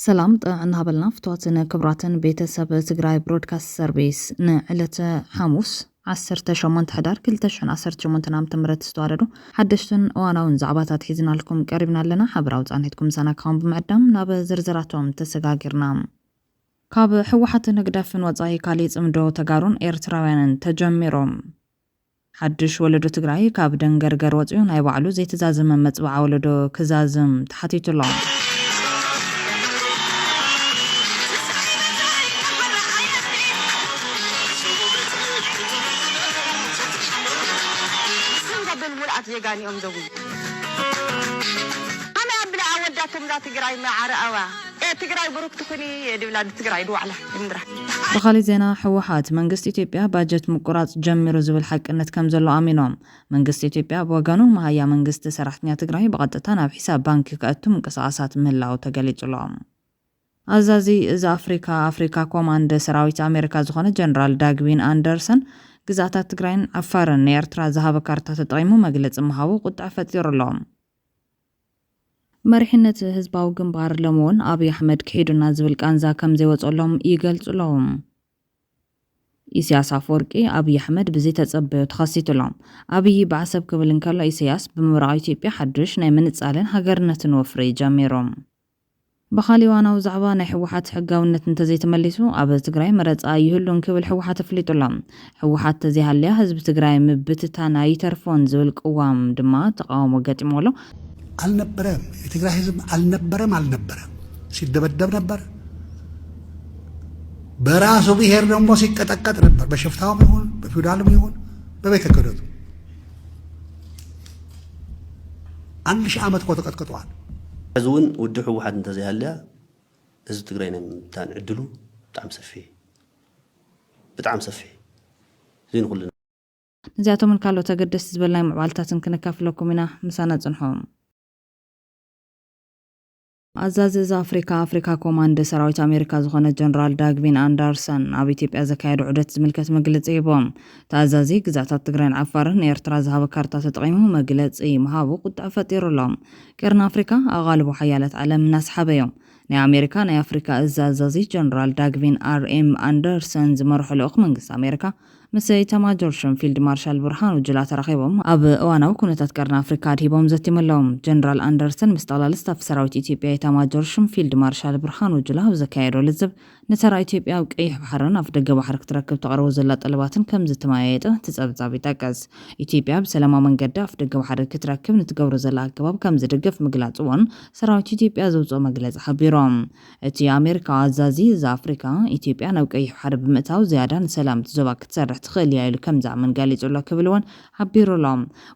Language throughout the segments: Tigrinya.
ሰላም ጥዕና ሃበልና ፍትዋትን ክብራትን ቤተሰብ ትግራይ ብሮድካስት ሰርቪስ ንዕለተ ሓሙስ 18 ሕዳር 218 ዓ ም ዝተዋደዱ ሓደሽትን እዋናውን ዛዕባታት ሒዝናልኩም ቀሪብና ኣለና ሓበራዊ ፃንሒትኩም ሰናካውን ብምዕዳም ናብ ዝርዝራቶም ተሰጋጊርና ካብ ሕወሓትን ህግደፍን ወፃኢ ካሊእ ፅምዶ ተጋሩን ኤርትራውያንን ተጀሚሩ ሓዱሽ ወለዶ ትግራይ ካብ ደንገርገር ወፂኡ ናይ ባዕሉ ዘይተዛዘመ መፅብዓ ወለዶ ክዛዝም ተሓቲቱ ኣሎ። ስም ዘብል ሙሉኣት ዜጋ ኒኦምዘዊ። ከመይ ኣብላ ኣወዳቶምዛ ትግራይ መዓረኣዋ። ትግራይ ብሩክቲ ኩኒ ድብላ ንትግራይ ድዋዕላ ድምድራ። ብኻሊእ ዜና ህወሓት፣ መንግስቲ ኢትዮጵያ ባጀት ምቁራፅ ጀሚሩ ዝብል ሓቅነት ከምዘሎ ኣሚኖም። መንግስቲ ኢትዮጵያ ብወገኑ፣ መሃያ መንግስቲ ሰራሕተኛ ትግራይ ብቐጥታ ናብ ሒሳብ ባንኪ ከእቱ ምንቅስቓሳት ምህላው ተገሊፁ'ሎ። ኣዛዚ እዚ ኣፍሪካ፣ ኣፍሪካ ኮማንድ፣ ሰራዊት ኣሜሪካ ዝኾነ ጀነራል ዳግዊን ኣንደርሰን፣ ግዝኣታት ትግራይን ዓፋርን ንኤርትራ ዝሃበ ካርታ ተጠቒሙ መግለፂ ምሃቡ ቁጠዐ ፈጢሩ'ሎ። መሪሕነት ህዝባዊ ግንባር ሎሚ እውን ኣብይ ኣሕመድ ክሒዱና ዝብል ቃንዛ ከምዘይወፀሎም ይገልፁ ኣለዉ። ኢሳያስ ኣፈወርቂ ኣብይ ኣሕመድ ብዘይተፀበዮ ተኸሲቱ ኣሎ። ኣብይ ብዓሰብ ክብል እንከሎ ኢሳያስ ብምብራቕ ኢትዮጵያ ሓዱሽ ናይ ምንፃልን ሃገርነትን ወፍሪ ጀሚሩ። ብኻሊእ እዋናዊ ዛዕባ ናይ ህወሓት ሕጋዊነት እንተዘይተመሊሱ ኣብ ትግራይ መረፃ ኣይህሉን ክብል ህወሓት ኣፍሊጡ ኣሎ። ህወሓት ተዘይሃልያ ህዝቢ ትግራይ ምብትታን ኣይተርፎን ዝብል ቅዋም ድማ ተቓውሞ ገጢምዎ ኣሎ። ኣልነበረም የትግራይ ህዝብ ኣልነበረም ኣልነበረም ሲደበደብ ነበር በራሱ ብሄር ደሞ ሲቀጠቀጥ ነበር በሽፍታውም ይሁን በፊውዳልም ይሁን በቤተ ክህነቱ ኣንድሺ ዓመት እኮ ተቀጥቅጠዋል። ሕዚ እውን ውድብ ህወሓት እንተዘይሃልያ ህዝቢ ትግራይ ናይ ምብታን ዕድሉ ብጣዕሚ ሰፊሕ እዩ። ብጣዕሚ ሰፊሕ እዩ። እዚ ንኹልና። ነዚኣቶምን ካልኦት ኣገደስቲ ዝበልናዮም ምዕባለታትን ክነካፍለኩም ኢና። ምሳና ፅንሑ። ኣዛዚ እዝ ኣፍሪካ፣ ኣፍሪካ ኮማንድ፣ ሰራዊት ኣሜሪካ ዝኾነ ጀነራል ዳግቪን ኣንዳርሰን ኣብ ኢትዮጵያ ዘካየዶ ዑደት ዝምልከት መግለፂ ሂቦም። እቲ ኣዛዚ ግዝኣታት ትግራይን ዓፋርን ንኤርትራ ዝሃቦ ካርታ ተጠቒሙ መግለፂ ምሃቡ ቁጠዐ ፈጢሩ ኣሎ። ቀርኒ ኣፍሪካ ኣቓልቦ ሓያላት ዓለም እናሰሓበ ዩ። ናይ ኣሜሪካ ናይ ኣፍሪካ እዝ ኣዛዚ ጀነራል ዳግቪን ኣር ኤም ኣንደርሰን ዝመርሖ ልኡኽ መንግስቲ ኣሜሪካ ምስ ኢታማጆር ሹም ፊልድ ማርሻል ብርሃኑ ጁላ ተራኺቦም ኣብ እዋናዊ ኩነታት ቀርኒ ኣፍሪካ ኣድሂቦም ዘቲሞሎም። ጀነራል ኣንደርሰን ምስ ጠቕላሊ ስታፍ ሰራዊት ኢትዮጵያ ኢታማጆር ሹም ፊልድ ማርሻል ብርሃኑ ጁላ ኣብ ዘካየዶ ልዝብ ንተራ ኢትዮጵያ ኣብ ቀይሕ ባሕርን ኣፍደገ ባሕሪ ክትረክብ ተቕርቦ ዘላ ጠለባትን ከምዝተመያየጡ እቲ ፀብፃብ ይጠቅስ። ኢትዮጵያ ብሰላማዊ መንገዲ ኣፍደገ ባሕሪ ክትረክብ ንትገብሮ ዘላ ኣገባብ ከምዝድግፍ ምግላፅዎን ሰራዊት ኢትዮጵያ ዘውፅኦ መግለፂ ሓቢሩ። እቲ ኣሜሪካዊ ኣዛዚ እዚ ኣፍሪካ፣ ኢትዮጵያ ናብ ቀይሕ ባሕሪ ብምእታው ዝያዳ ንሰላም እቲ ዞባ ክትሰርሕ ትኽእል እያ ኢሉ ከምዝኣምን ገሊጹ'ሎ ክብል እውን ሓቢሩ'ሎ።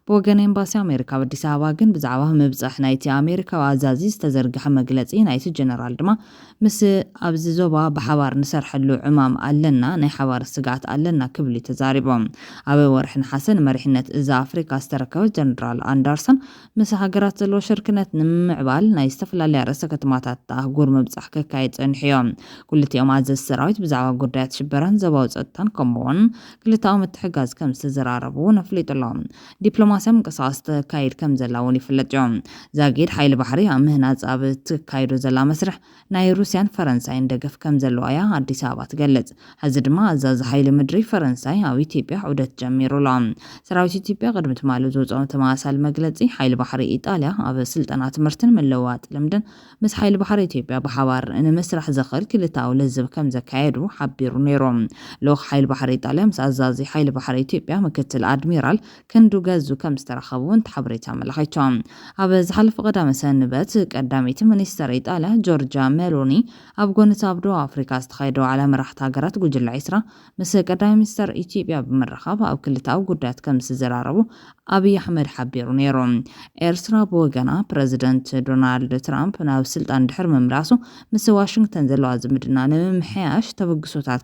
ብወገን ኤምባሲ ኣሜሪካ ኣብ ኣዲስ ኣበባ ግን ብዛዕባ ምብጻሕ ናይቲ ኣሜሪካዊ ኣዛዚ ዝተዘርግሐ መግለጺ፣ ናይቲ ጀነራል ድማ ምስ ኣብዚ ዞባ ብሓባር ንሰርሐሉ ዕማም ኣለና፣ ናይ ሓባር ስግኣት ኣለና ክብል'ዩ ተዛሪቡ። ኣብ ወርሒ ነሓሰ ንመሪሕነት እዚ ኣፍሪካ ዝተረከበ ጀነራል ኣንደርሰን፣ ምስ ሃገራት ዘለዎ ሽርክነት ንምምዕባል ናይ ዝተፈላለያ ርእሰ ከተማታት እታ ኣህጉር ምብጻሕ ከካይድ ጸኒሑዮ። ኩልቲኦም ኣዘዝቲ ሰራዊት ብዛዕባ ጉዳያት ሽበራን ዞባዊ ጸጥታን ከምኡ'ውን ክልተኣዊ ምትሕግጋዝ ከም ዝተዘራረቡ'ውን ኣፍሊጡ'ሎ። ዲፕሎማስያ ምንቅስቓስ ተካይድ ከም ዘላ'ውን ይፍለጥዮ። ዛጊድ ሓይሊ ባሕሪ ኣብ ምህናጽ ኣብ እትካይዶ ዘላ መስርሕ፣ ናይ ሩስያን ፈረንሳይን ደገፍ ከምዘለዋ'ያ ኣዲስ ኣበባ ትገልጽ። ሕዚ ድማ ኣዛዚ ሓይሊ ምድሪ ፈረንሳይ ኣብ ኢትዮጵያ ዑደት ጀሚሩ ኣሎ። ሰራዊት ኢትዮጵያ ቅድሚ ትማሊ ዘውጽኦ ተመሳሳሊ መግለጺ፣ ሓይሊ ባሕሪ ኢጣልያ ኣብ ስልጠና፣ ትምህርትን ምልውዋጥ ልምድን ምስ ሓይሊ ባሕሪ ኢትዮጵያ ብሓባር ንምስራሕ ዘኽእል ክልተኣዊ ልዝብ ከምዘካየዱ ሓቢሩ ነይሩ። ልኡኽ ሓይሊ ባሕሪ ኢጣልያ ምስ ኣዛዚ ሓይሊ ባሕሪ ኢትዮጵያ ምክትል ኣድሚራል ክንዱ ገዙ ከም ዝተረኸቡ እውን እቲ ሓበሬታ ኣመላኺቱ። ኣብ ዝሓለፈ ቀዳመ ሰንበት፣ ቀዳመይቲ ሚኒስተር ኢጣልያ ጆርጃ ሜሎኒ፣ ኣብ ጎኒ እቲ ኣብ ደቡብ ኣፍሪቃ ዝተኻየደ ዋዕላ መራሕቲ ሃገራት ጉጅለ ዕስራ፣ ምስ ቀዳማይ ሚኒስተር ኢትዮጵያ ብምርኻብ ኣብ ክልተኣዊ ጉዳያት ከም ዝተዘራረቡ ኣብይ ኣሕመድ ሓቢሩ ነይሩ። ኤርትራ ብወገና፣ ፕረዚደንት ዶናልድ ትራምፕ ናብ ስልጣን ድሕሪ ምምላሱ፣ ምስ ዋሽንግተን ዘለዋ ዝምድና ንምምሕያሽ ተበግሶታት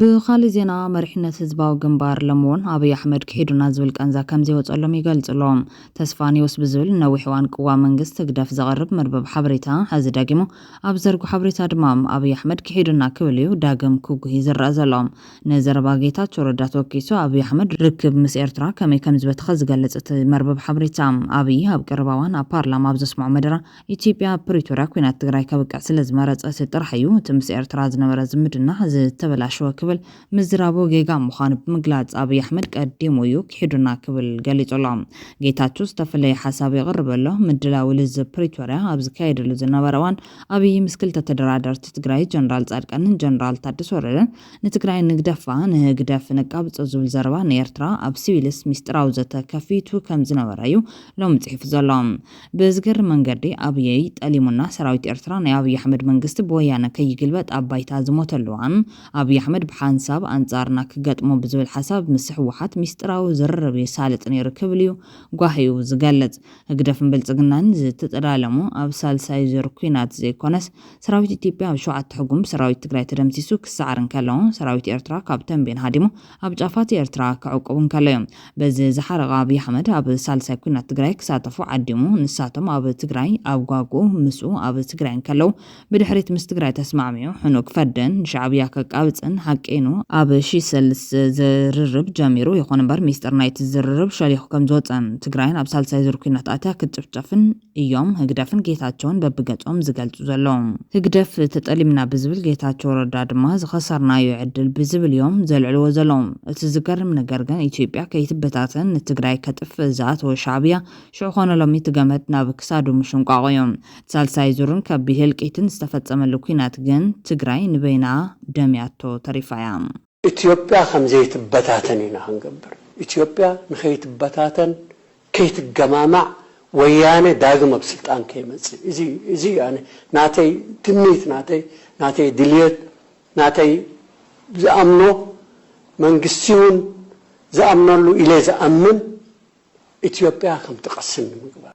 ብኻሊእ ዜና መሪሕነት ህዝባዊ ግንባር ሎሚ'ውን ኣብይ ኣሕመድ ክሒዱና ዝብል ቃንዛ ከምዘይወፀሎም ይገልፁ'ሎ። ተስፋ ኒውስ ብዝብል ንነዊሕ እዋን ቅዋም መንግስቲ ህግደፍ ዘቕርብ መርበብ ሓበሬታ ሕዚ ደጊሙ ኣብ ዝዘርግሖ ሓበሬታ ድማ ኣብይ ኣሕመድ ክሒዱና ክብል እዩ ዳግም ክጉሂ ዝረኣ ዘሎ። ንዘረባ ጌታቸው ረዳ ተወኪሱ ኣብይ ኣሕመድ ርክብ ምስ ኤርትራ ከመይ ከምዝበተኸ ዝገልፅ እቲ መርበብ ሓበሬታ፣ ኣብይ ኣብ ቀረባ እዋን ኣብ ፓርላማ ኣብ ዘስመዖ መደረ፣ ኢትዮጵያ ኣብ ፕሪቶርያ ኲናት ትግራይ ከብቅዕ ስለዝመረፀት ጥራሕ እዩ እቲ ምስ ኤርትራ ዝነበረ ዝምድና ዝተበላሸወ ክብል ምዝራቡ ጌጋ ምዃኑ ብምግላፅ ኣብይ ኣሕመድ ቀዲሙ እዩ ኪሒዱና ክብል ገሊፁ ኣሎ። ጌታቸው ዝተፈለየ ሓሳብ የቕርብ ኣሎ። ምድላው ልዝብ ፕሪቶርያ ኣብ ዝካየደሉ ዝነበረ እዋን ኣብይ ምስ ክልተ ተደራደርቲ ትግራይ ጀነራል ፃድቃንን ጀነራል ታደሰ ወረደን ንትግራይ ንግደፋ ንህግደፍ ነቃብፆ ዝብል ዘረባ ንኤርትራ ኣብ ሲቪልስ ሚስጢራዊ ዘተ ከፊቱ ከምዝነበረ እዩ ሎሚ ፅሒፉ ዘሎ። ብዝገርም መንገዲ ኣብይ ጠሊሙና ሰራዊት ኤርትራ ናይ ኣብይ ኣሕመድ መንግስቲ ብወያነ ከይግልበጥ ኣብ ባይታ ዝሞተሉ እዋን ኣብይ ኣሕመድ ብሓንሳብ ኣንጻርና ክገጥሞ ብዝብል ሓሳብ ምስ ህወሓት ሚስጥራዊ ዝርርብ የሳልጥ ነይሩ ክብልዩ ጓሂኡ ዝገልጽ። ህግደፍን ብልጽግናን ዝተጠላለሙ ኣብ ሳልሳይ ዙር ኲናት ዘይኮነስ ሰራዊት ኢትዮጵያ ኣብ ሸውዓተ ሕጉም ብሰራዊት ትግራይ ተደምሲሱ ክሰዓር እንከሎ ሰራዊት ኤርትራ ካብ ተምቤን ሃዲሙ ኣብ ጫፋት ኤርትራ ክዕቁቡ እንከለዮም በዚ ዝሓረቐ ኣብይ ኣሕመድ ኣብ ሳልሳይ ኩናት ትግራይ ክሳተፉ ዓዲሙ ንሳቶም ኣብ ትግራይ ኣብ ጓጉኡ ምስኡ ኣብ ትግራይ እንከለው ብድሕሪት ምስ ትግራይ ተስማዕሚዑ ሕኑእ ክፈድን ንሻዕብያ ከቃብጽን ሓቂኑ ኣብ ሽሰልስ ዝርርብ ጀሚሩ ይኹን እምበር ሚስጥር ናይቲ ዝርርብ ሸሊኹ ከምዝወጸን ትግራይን ኣብ ሳልሳይ ዙር ኩናት ኣትያ ክትጭፍጨፍን እዮም ህግደፍን ጌታቸውን በብገጾም ዝገልጹ ዘለዉ። ህግደፍ ተጠሊምና ብዝብል ጌታቸው ረዳ ድማ ዝኸሰርናዮ ዕድል ብዝብል እዮም ዘልዕልዎ ዘለዉ። እቲ ዝገርም ነገር ግን ኢትዮጵያ ከይትበታተን ንትግራይ ከጥፍእ ዝኣተወ ሻዕብያ ሽዑ ኮነ ሎሚ እቲ ገመድ ናብ ክሳዱ ምሽንቋቑ እዩ። እቲ ሳልሳይ ዙርን ከቢድ ህልቂትን ዝተፈጸመሉ ኲናት ግን ትግራይ ንበይና ደምያቶ ተሪፋ እያ። ኢትዮጵያ ከምዘይትበታተን ኢና ክንገብር። ኢትዮጵያ ንከይትበታተን ከይትገማማዕ ወያነ ዳግም ኣብ ስልጣን ከይመፅእ እዚ እዚ እዩ ኣነ ናተይ ትምኒት ናተይ ናተይ ድልየት ናተይ ዝኣምኖ መንግስቲ እውን ዝኣምነሉ ኢለ ዝኣምን ኢትዮጵያ ከምትቐስን ንምግባር።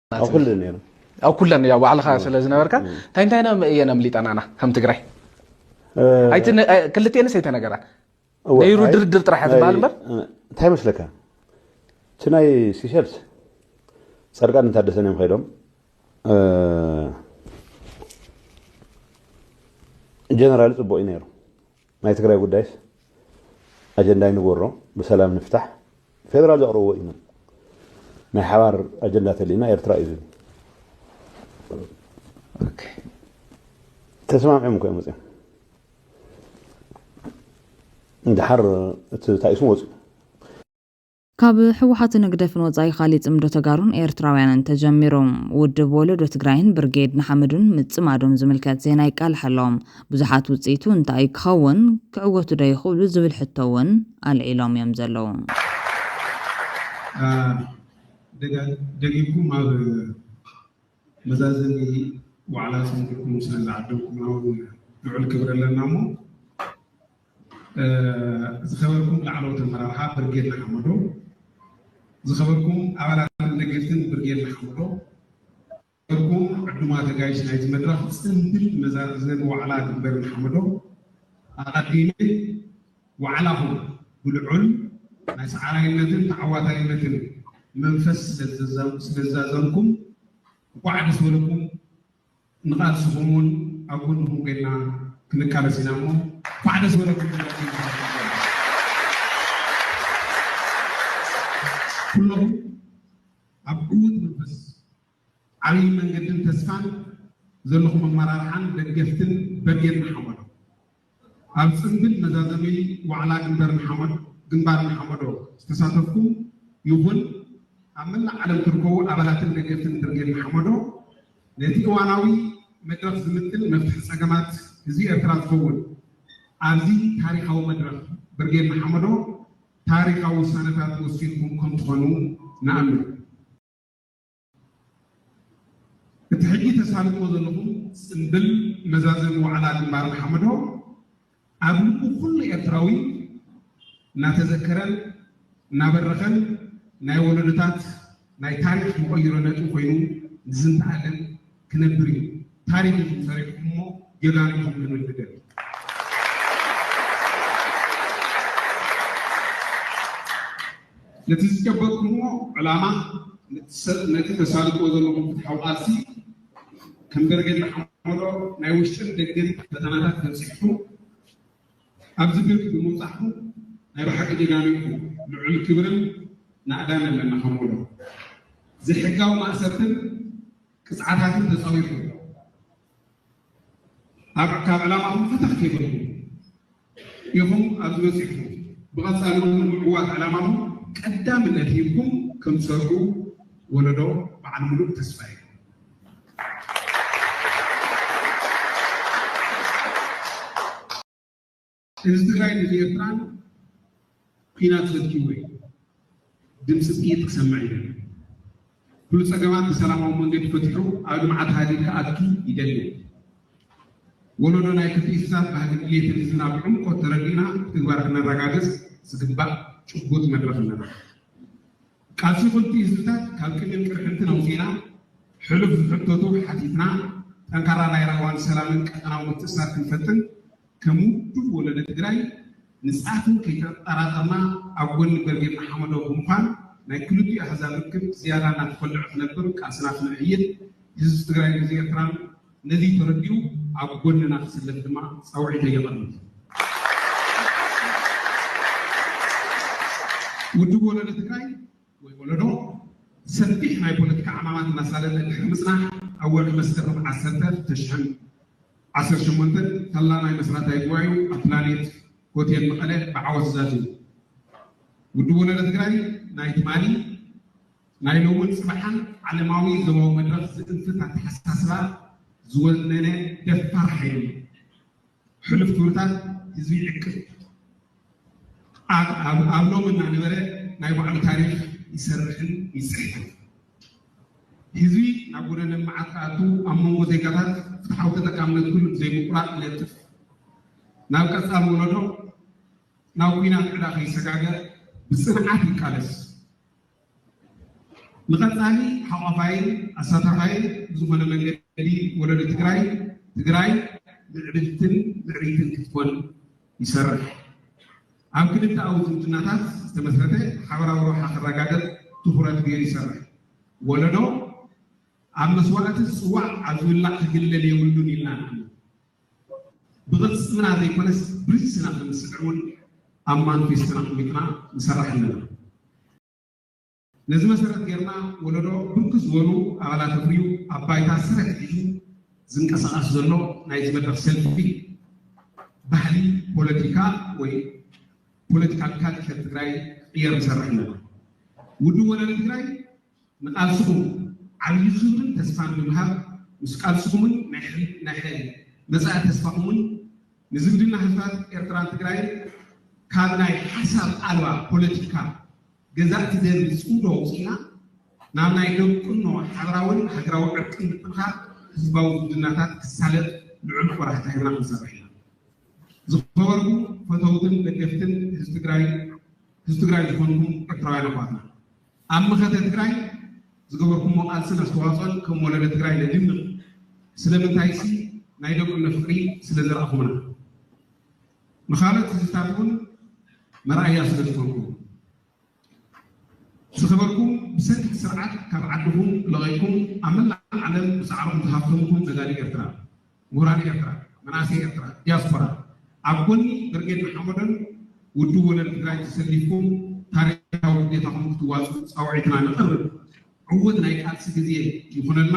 ኣብ ኩለን ያው ባዕልኻ ስለ ዝነበርካ እንታይ እንታይ እየን ኣምሊጠናና ከም ትግራይ ክልቴንስ ኣይተነገራ ነይሩ ድርድር ጥራሕ ዝበሃል እምበር እንታይ መስለካ እቲ ናይ ሲሸልስ ፃድቃን እንታደሰን እዮም ከይዶም ጀነራል ፅቡቅ እዩ ነይሩ ናይ ትግራይ ጉዳይስ ኣጀንዳ ኣይንግበሮ ብሰላም ንፍታሕ ፌደራል ዘቕርብዎ እዩ ን ናይ ሓባር ኣጀንዳ ተልዩና ኤርትራ እዩ ዝብል ተሰማምዖም እኮ እዮም ወፅኦም እንድሓር እቲ ታኢሱ ወፅኡ ካብ ህወሓትን ህግደፍን ወፃኢ ካሊእ ፅምዶ ተጋሩን ኤርትራውያንን ተጀሚሩ። ውድብ ወለዶ ትግራይን ብርጌድ ንሓመዱን ምፅማዶም ዝምልከት ዜና ይቃላሕ ኣሎ። ብዙሓት ውፅኢቱ እንታይ እዩ ክኸውን? ክዕወቱ ዶ ይኽእሉ? ዝብል ሕቶ እውን ኣልዒሎም እዮም ዘለዉ። ደጊምኩም ኣብ መዛዘሚ ዋዕላ ፅምዶኹም ስለዝዓደምኩምና እውን ልዑል ክብሪ ኣለና እሞ፣ ዝኸበርኩም ላዕለዎት ኣመራርሓ ብርጌድ ንሓመዱ፣ ዝኸበርኩም ኣባላትን ደገፍትን ብርጌድ ንሓመዱ፣ ዝኸበርኩም ዕዱማት ኣጋይሽ ናይዚ መድረኽ ጽንብል መዛዘሚ ዋዕላ ግንበር ንሓመዱ፣ ኣቐዲመ ዋዕላኹም ብልዑል ናይ ሰዓራይነትን ተዓዋታይነትን መንፈስ ስለዝዛዘምኩም እንቋዕ ደስ በለኩም። ንቃልስኹም ውን ኣብ ጎንኹም ኮይንና ክንቃለስ ኢና እሞ እንኳዕ ደስ በለኩም ክብለኩም ይፈቱ። ኩለኹም ኣብ ዕዉት መንፈስ፣ ዓብይ መንገድን ተስፋን ዘለኹም ኣመራርሓን ደገፍትን በጌን ንሓመዶ። ኣብ ጽንብል መዛዘሚ ዋዕላ ግንበር ንሓመዶ ግንባር ንሓመዶ ዝተሳተፍኩም ይኹን ኣብ መላእ ዓለም ትርከቡ ኣባላትን ደገፍትን ብርጌድ ንሓመዶ ነቲ እዋናዊ መድረኽ ዝምጥን መፍትሒ ጸገማት ህዝቢ ኤርትራ ዝኸውን ኣብዚ ታሪኻዊ መድረኽ ብርጌድ ንሓመዶ ታሪኻዊ ውሳነታት ወሲንኩም ከምትኾኑ ንኣምን። እቲ ሕጂ ተሳልጥዎ ዘለኹም ጽምብል መዛዘሚ ዋዕላ ግንባር ንሓመዶ ኣብ ልቡ ኩሉ ኤርትራዊ እናተዘከረን እናበረኸን ናይ ወለዶታት ናይ ታሪኽ መቐይሮ ነጥቢ ኮይኑ ንዝንተኣለም ክነብር እዩ ታሪክ ኢኩም ሰሪሕኩሞ ጀጋኑ ኢኩም ክንብል ንደሊ። ነቲ ዝጨበጥኩሞ ዕላማ ነቲ ተሳልጥዎ ዘለኩም ፍትሓዊ ቃልሲ ከም በርጌድ ንሓመዶ ናይ ውሽጥን ደገን ፈተናታት ተንሲሕኩም ኣብዚ ግርም ብምብጻሕኩም ናይ ብሓቂ ጀጋኑ ኢኩም ልዑል ክብርን ናእዳን ኣለና ከም ወለዶ ዘይሕጋዊ ማእሰርትን ቅጽዓታትን ተጻዊርኩም ኣብ ካብ ዕላማኩም ፈተኽ ከይበልኩም ኢኩም ኣብዚ በጺሕኩም ብቐጻሊ ውን ንምዕዋት ዕላማኩም ቀዳምነት ሂብኩም ከም ትሰርሑ ወለዶ በዓል ምሉእ ተስፋ ኢዩ ህዝቢ ትግራይ ህዝቢ ኤርትራን ኩናት ዘትኪዎ እዩ ድምፂ ጥይት ክሰምዕ ይደሊ ኩሉ ፀገማት ብሰላማዊ መንገዲ ፈትሑ ኣብ ልምዓት ሃገር ክኣቱ ይደሊ ወለዶ ናይ ክልቲ እንስሳት ባህሊ ድሌትን ህዝብና ብዕምቆት ተረዲእና ብትግባር ክነረጋግፅ ዝግባእ ጭቡጥ መድረኽ ኣለና ቃልሲ ክልቲኡ ህዝብታት ካብ ቅኒን ቅርሕንትን ኣውፂእና ሕሉፍ ዝሕተቱ ሓቲትና ጠንካራ ናይ ራህዋን ሰላምን ቀጠናዊ ምትእስሳር ክንፈጥን ከም ውድብ ወለደ ትግራይ ንፃትን ከይተጠራጠርና ኣብ ጎኒ ብርጌድ ንሓመዶ ብምዃን ናይ ክልቲኡ ኣህዛብ ርክብ ዝያዳ እናተኾልዐ ክነብር ቃልስና ክነዕይል ህዝብ ትግራይን ህዝብ ኤርትራን ነዚ ተረዲኡ ኣብ ጎንና ክስለፍ ድማ ጻውዒተይ የቐርብ። ውድብ ወለዶ ትግራይ ወይ ወለዶ ሰፊሕ ናይ ፖለቲካ ዕማማት እናሳለጠ ድሕሪ ምጽናሕ ኣብ ወርሒ መስከረም ዓሰርተ ተሽሕን ዓሰርተ ሸሞንተን ፈላማይ መስራታዊ ጉባኤኡ ኣብ ፕላኔት ሆቴል መቐለ ብዓወት ዛዚሙ። ውድብ ወለዶ ትግራይ ናይ ትማሊ ናይ ሎምን ፅባሓን ዓለማዊ ዞባዊ መድረኽ ዝእንፍት ኣተሓሳስባ ዝወነነ ደፋር ሓይሊ እዩ። ሕሉፍ ክብርታት ህዝቢ ይዕቅብ፣ ኣብ ሎሚ እናነበረ ናይ ባዕሉ ታሪኽ ይሰርሕን ይፅሕፍን። ህዝቢ ናብ ጎደና ልምዓት ክኣቱ ኣብ መንጎ ዜጋታት ፍትሓዊ ተጠቃምነት ኩሉ ብዘይምቁራፅ ይነጥፍ። ናብ ቀፃሊ ወለዶ ናብ ኩናት ዕዳ ከይሰጋገር ብፅንዓት ይቃለስ። ንቐፃሊ ሓቋፋይን ኣሳታፋይን ብዝኾነ መንገዲ ወለዶ ትግራይ ትግራይ ምዕብልትን ምዕብይትን ክትኮን ይሰርሕ። ኣብ ክልተኣዊ ዝምድናታት ዝተመስረተ ሓበራዊ ረብሓ ክረጋገፅ ትኹረት ገይሩ ይሰርሕ። ወለዶ ኣብ መስዋእቲ ዝፅዋዕ ኣብ ዝብላዕ ክግለል የብሉን ኢልና ንኣምን። ብቕልጽምና ዘይኮነስ ብርእስና ከም ዝስዕብ እውን ኣብ ማንፌስቶና ኣቕሚጥና ንሰርሕ ኣለና። ነዚ መሰረት ገይርና ወለዶ ብርክት ዝበሉ ኣባላት ኣፍርዩ ኣብ ባይታ ሰረት ሒዙ ዝንቀሳቐስ ዘሎ ናይዚ መድረኽ ሰልፊ ባህሊ ፖለቲካ ወይ ፖለቲካል ካልቸር ትግራይ ክቕየር ንሰርሕ ኣለና። ውድብ ወለዶ ትግራይ ንቃልስኹም ዓብዪ ክብርን ተስፋን ብምሃብ ምስ ቃልስኹምን ናይ መፃኢ ተስፋኹምን ንዝምድና ህዝብታት ኤርትራን ትግራይን ካብ ናይ ሓሳብ ኣልባ ፖለቲካ ገዛእቲ ደርቢ ፅምዶ ኣውፂእና ናብ ናይ ደቁኖ ሓብራዊን ሃገራዊ ዕርቅን ምጥንኻር ህዝባዊ ዝምድናታት ክሳለጥ ልዑል ቆራሕታ ሂብና ክንሰርሕ ኢና። ዝኸበርኩም ፈተውትን ደገፍትን ህዝቢ ትግራይን ህዝቢ ትግራይ ዝኾንኩም ኤርትራውያን ኣሕዋትና ኣብ መኸተ ትግራይ ዝገበርኩሞ ቃልስን ኣስተዋፅኦን ከም ወለዶ ትግራይ ነድንቕ፣ ስለምንታይሲ ናይ ደቁነ ፍቕሪ ስለዘርኣኹምና። ንኻልኦት ህዝብታት እውን መርኣያ ስለዝኾንኩም። ዝኸበርኩም ብሰንኪ እቲ ስርዓት ካብ ዓድኹም ለቒቕኩም ኣብ መላእ ዓለም ብፃዕርኹም ተሃፍተምኩም ነጋዶ ኤርትራ፣ ምሁራን ኤርትራ፣ መናእሰይ ኤርትራ፣ ዲያስፖራ ኣብ ጎኒ ብርጌድ ንሓመዱን ውድብ ወለል ትግራይን ተሰሊፍኩም ታሪኻዊ ግዴታኹም ክትዋፅኡ ፃውዒትና ነቕርብ። ዕዉት ናይ ቃልሲ ግዜ ይኹነልና።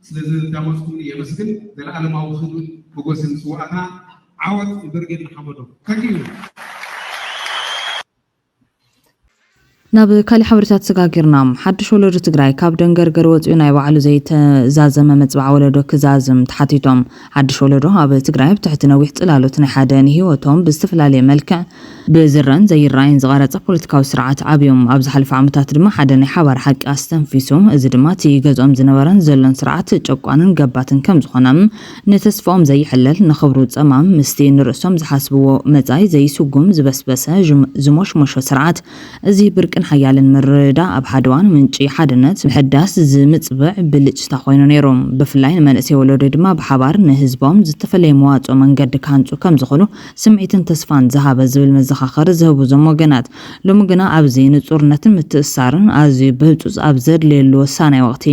ስለዝዳመፅኩምኒ የመስግን። ዘለኣለማዊ ክብርን ሞጎስን ንስውኣትና። ዓወት ንብርጌድ ንሓመዱ። Thank you። ናብ ካሊእ ሓበሬታ ተሰጋጊርና። ሓዱሽ ወለዶ ትግራይ ካብ ደንገርገር ወፂኡ ናይ ባዕሉ ዘይተዛዘመ መፅብዓ ወለዶ ክዛዝም ተሓቲቶም። ሓዱሽ ወለዶ ኣብ ትግራይ ኣብ ትሕቲ ነዊሕ ፅላሎት ናይ ሓደ ንሂወቶም ብዝተፈላለየ መልክዕ፣ ብዝረኣን ዘይረኣይን ዝቐረፀ ፖለቲካዊ ስርዓት ዓብዮም። ኣብ ዝሓለፈ ዓመታት ድማ ሓደ ናይ ሓባር ሓቂ ኣስተንፊሱ። እዚ ድማ እቲ ገዝኦም ዝነበረን ዘሎን ስርዓት ጨቋንን ገባትን ከምዝኾነ። ንተስፋኦም ዘይሕለል ንኽብሩ ጸማም ምስቲ ንርእሶም ዝሓስብዎ መጻኢ ዘይስጉም ዝበስበሰ ዝሞሽሞሾ ስርዓት እዚ ብርቂን ሓያልን ምርድዳእ ኣብ ሓደ እዋን ምንጪ ሓድነት ምሕዳስ ዝምጽብዕ ብልጭታ ኮይኑ ነይሩ ብፍላይ ንመንእሰይ ወለዶ ድማ ብሓባር ንህዝቦም ዝተፈለየ መዋጽኦ መንገዲ ክሃንጹ ከምዝኽእሉ ስምዒትን ተስፋን ዝሃበ ዝብል መዘኻኸሪ ዝህቡ እዞም ወገናት ሎሚ ግና ኣብዚ ንጹርነትን ምትእስሳርን ኣዝዩ ብህጹጽ ኣብ ዘድልየሉ ወሳናይ ወቕቲ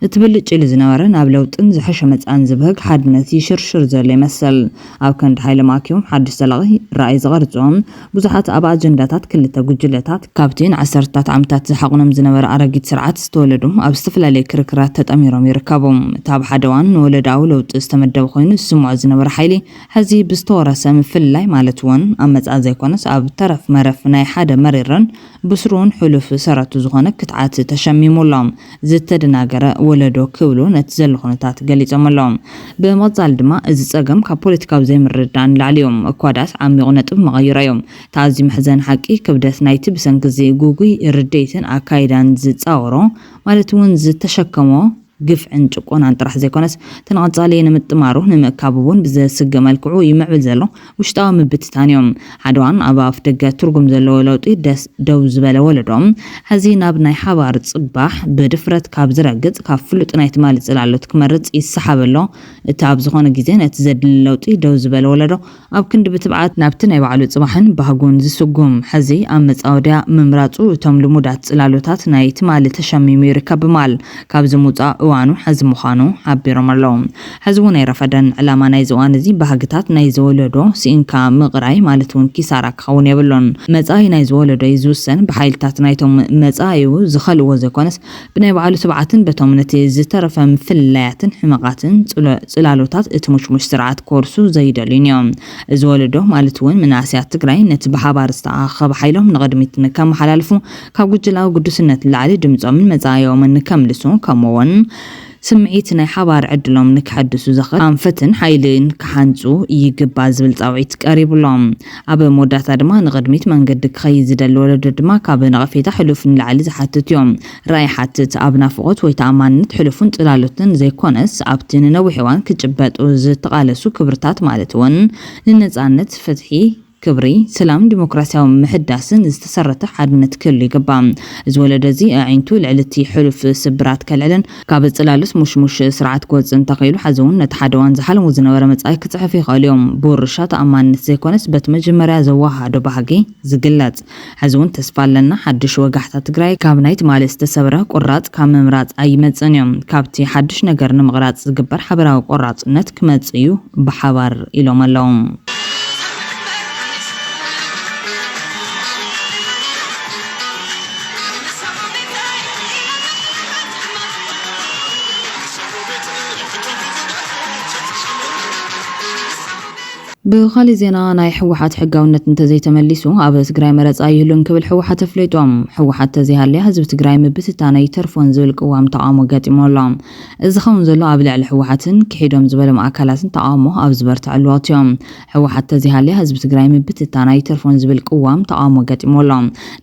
እቲ ብልጭ ኢሉ ዝነበረ ናብ ለውጥን ዝሐሸ መጻእን ዝብህግ ሓድነት ይሽርሽር ዘሎ ይመስል። ኣብ ከንዲ ሓይሎም ኣኪቦም ሓድሽ ዘላቂ ራእይ ዝቐርጹ ብዙሓት ኣብ ኣጀንዳታት ክልተ ጉጅለታት፣ ካብቲ ንዓሰርታት ዓመታት ዝሓቑኖም ዝነበረ ኣረጊት ስርዓት ዝተወለዱ ኣብ ዝተፈላለየ ክርክራት ተጠሚሮም ይርከቡ። እቲ ኣብ ሓደ እዋን ንወለዶኣዊ ለውጢ ዝተመደበ ኮይኑ ዝስምዖ ዝነበረ ሓይሊ ሐዚ ብዝተወረሰ ምፍልላይ ማለት እውን ኣብ መጻኢ ዘይኮነስ ኣብ ተረፍ መረፍ ናይ ሓደ መሪርን ብስሩን ሕሉፍ ሰረቱ ዝኾነ ክትዓት ተሸሚሙ ኣሎ። ዝተደናገረ ወለዶ ክብሉ ነቲ ዘሎ ኩነታት ገሊጾም ኣለዉ። ብምቕጻል ድማ እዚ ጸገም ካብ ፖለቲካዊ ዘይምርድዳእ ንላዕሊ እዩ። እኳ ድኣስ ዓሚቝ ነጥብ መቐይሮ እዩ። እቲ ኣዝዩ መሕዘኒ ሓቂ ክብደት ናይቲ ብሰንኪ እዚ ግጉይ ርድኢትን ኣካይዳን ዝጻወሮ ማለት'ውን ዝተሸከሞ፣ ግፍዕን ጭቆናን ጥራሕ ዘይኮነስ ተንቐጻሊ ንምጥማሩ ንምእካቡ እውን ብዘስግእ መልክዑ ይምዕብል ዘሎ ውሽጣዊ ምብትታን እዩ። ሓደዋን ኣብ ኣፍ ደገ ትርጉም ዘለዎ ለውጢ ደስ ደው ዝበለ ወለዶ ሐዚ ናብ ናይ ሓባር ጽባሕ ብድፍረት ካብ ዝረግጽ ካብ ፍሉጥ ናይ ትማሊ ጽላሎት ክመርጽ ይሰሓብ ኣሎ እቲ ኣብ ዝኾነ ግዜ ነቲ ዘድሊ ለውጢ ደው ዝበለ ወለዶ ኣብ ክንዲ ብትብዓት ናብቲ ናይ ባዕሉ ጽባሕን ባህጉን ዝስጉም፣ ሕዚ ኣብ መጻወድያ ምምራጹ እቶም ልሙዳት ጽላሎታት ናይ ትማሊ ተሸሚሙ ይርከብ ብማል ካብዚ ምውጻእ እዋኑ ሕዚ ምዃኑ ሓቢሮም ኣለዉ። ሕዚ እውን ኣይረፈደን። ዕላማ ናይዚ እዋን እዚ ባህግታት ናይዚ ወለዶ ስኢንካ ምቕራይ ማለት እውን ኪሳራ ክኸውን የብሉን። መጻኢ ናይዚ ወለዶ እዩ ዝውሰን ብሓይልታት ናይቶም መጻኢኡ ዝኸልእዎ ዘይኮነስ ብናይ ባዕሉ ትብዓትን በቶም ነቲ ዝተረፈ ምፍልላያትን ሕመቓትን ጽላሎታት እቲ ሙሽሙሽ ስርዓት ክወርሱ ዘይደልዩን እዮም። እዚ ወለዶ ማለት እውን መናእሰያት ትግራይ ነቲ ብሓባር ዝተኣኻኸበ ሓይሎም ንቕድሚት ንከመሓላልፉ፣ ካብ ጉጅለኣዊ ግዱስነት ንላዕሊ ድምጾምን መጻኢኦምን ንከምልሱ ከምኡ እውን ስምዒት ናይ ሓባር ዕድሎም ንከሐድሱ ዘኽእል ኣንፈትን ሓይልን ክሃንጹ ይግባእ ዝብል ጻውዒት ቀሪቡ ኣሎ። ኣብ መወዳእታ ድማ ንቕድሚት መንገዲ ክኸይድ ዝደሊ ወለዶ ድማ ካብ ነቐፌታ ሕሉፍ ንላዕሊ ዝሓትት እዩ። ራኢ ይሓትት፣ ኣብ ናፍቖት ወይ ተኣማንነት ሕሉፍን ጽላሎትን ዘይኮነስ ኣብቲ ንነዊሕ እዋን ክጭበጡ ዝተቓለሱ ክብርታት ማለት እውን ንነጻነት፣ ፍትሒ፣ ክብሪ፣ ሰላምን ዲሞክራሲያዊ ምሕዳስን ዝተሰረተ ሓድነት ክህሉ ይግባእ። እዚ ወለዶ እዚ ኣዒንቱ ልዕሊ እቲ ሕሉፍ ስብራት ከልዕልን፣ ካብ ጽላልስ ሙሽሙሽ ስርዓት ክወጽእ እንተኽኢሉ፣ ሐዚ'ውን ነቲ ሓደ እዋን ዝሓለምዎ ዝነበረ መጻኢ ክጽሕፉ ይኸእሉ እዮም። ብውርሻ ተኣማንነት ዘይኮነስ በቲ መጀመርያ ዘወሃሃዶ ባህጊ ዝግለጽ። ሐዚ'ውን ተስፋ ኣለና ሓዱሽ ወጋሕታ ትግራይ ካብ ናይ ትማሊ ዝተሰብረ ቁራጽ ካብ ምምራጽ ኣይመጽእን እዩ። ካብቲ ሓዱሽ ነገር ንምቕራጽ ዝግበር ሓበራዊ ቆራጽነት ክመጽእ እዩ ብሓባር ኢሎም ኣለው። ብኻሊእ ዜና ናይ ህወሓት ሕጋውነት እንተዘይተመሊሱ ኣብ ትግራይ መረፃ ኣይህሉን ክብል ህወሓት ኣፍሊጡ። ህወሓት ተዘይሃልያ ህዝቢ ትግራይ ምብትታን ኣይተርፎን ዝብል ቅዋም ተቓውሞ ገጢምዎ ኣሎ። እዚ ዝኸውን ዘሎ ኣብ ልዕሊ ህወሓትን ክሒዶም ዝበሎም ኣካላትን ተቓውሞ ኣብ ዝበርተዐሉ ወቕቲ እዩ። ህወሓት ተዘይሃልያ ህዝቢ ትግራይ ምብትታን ኣይተርፎን ዝብል ቅዋም ተቓውሞ ገጢምዎ ኣሎ።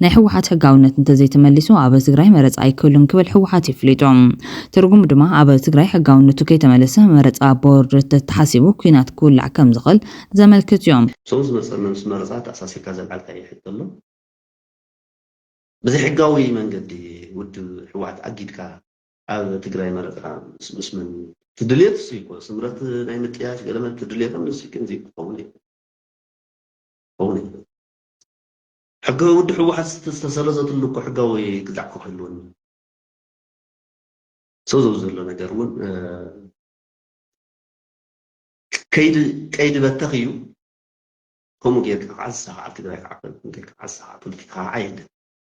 ናይ ህወሓት ሕጋውነት እንተዘይተመሊሱ ኣብ ትግራይ መረፃ ኣይክህሉን ክብል ህወሓት የፍሊጡ። ትርጉሙ ድማ ኣብ ትግራይ ሕጋውነቱ ከይተመለሰ መረፃ ቦርድ ተተሓሲቡ ኲናት ክውላዕ ከምዝኽእል ዘመልክት እዩ። ሰው ዝመፀና ምስ መረፃ ኣተኣሳሲርካ ዘልዓልካዮ ሕቶ ኣሎ። ብዘይሕጋዊ መንገዲ ውድብ ህወሓት ኣጊድካ ኣብ ትግራይ መረፃ ምስ ምስ መን? እቲ ድልየት እሱይ እኮ ስምረት ናይ ምጥያሽ ገለ መለ እቲ ድልየቶም ንሱይ ግን እዙይ ክኸውን የብሉን ክኸውን የብሉን ሕገ ውድ ህወሓት ዝተሰረዘትሉ እኮ ሕጋዊ ግዛዕ እኮ ክህልወን እዩ ሰው ዘው ዘሎ ነገር እውን ከይዲ ቀይዲ በተኽ እዩ ከምኡ ጌርካ ከዓ ዝሰኻዓ ትግራይ ከዓ ጌርካ ዓሳ ፖለቲካ ከዓ የለን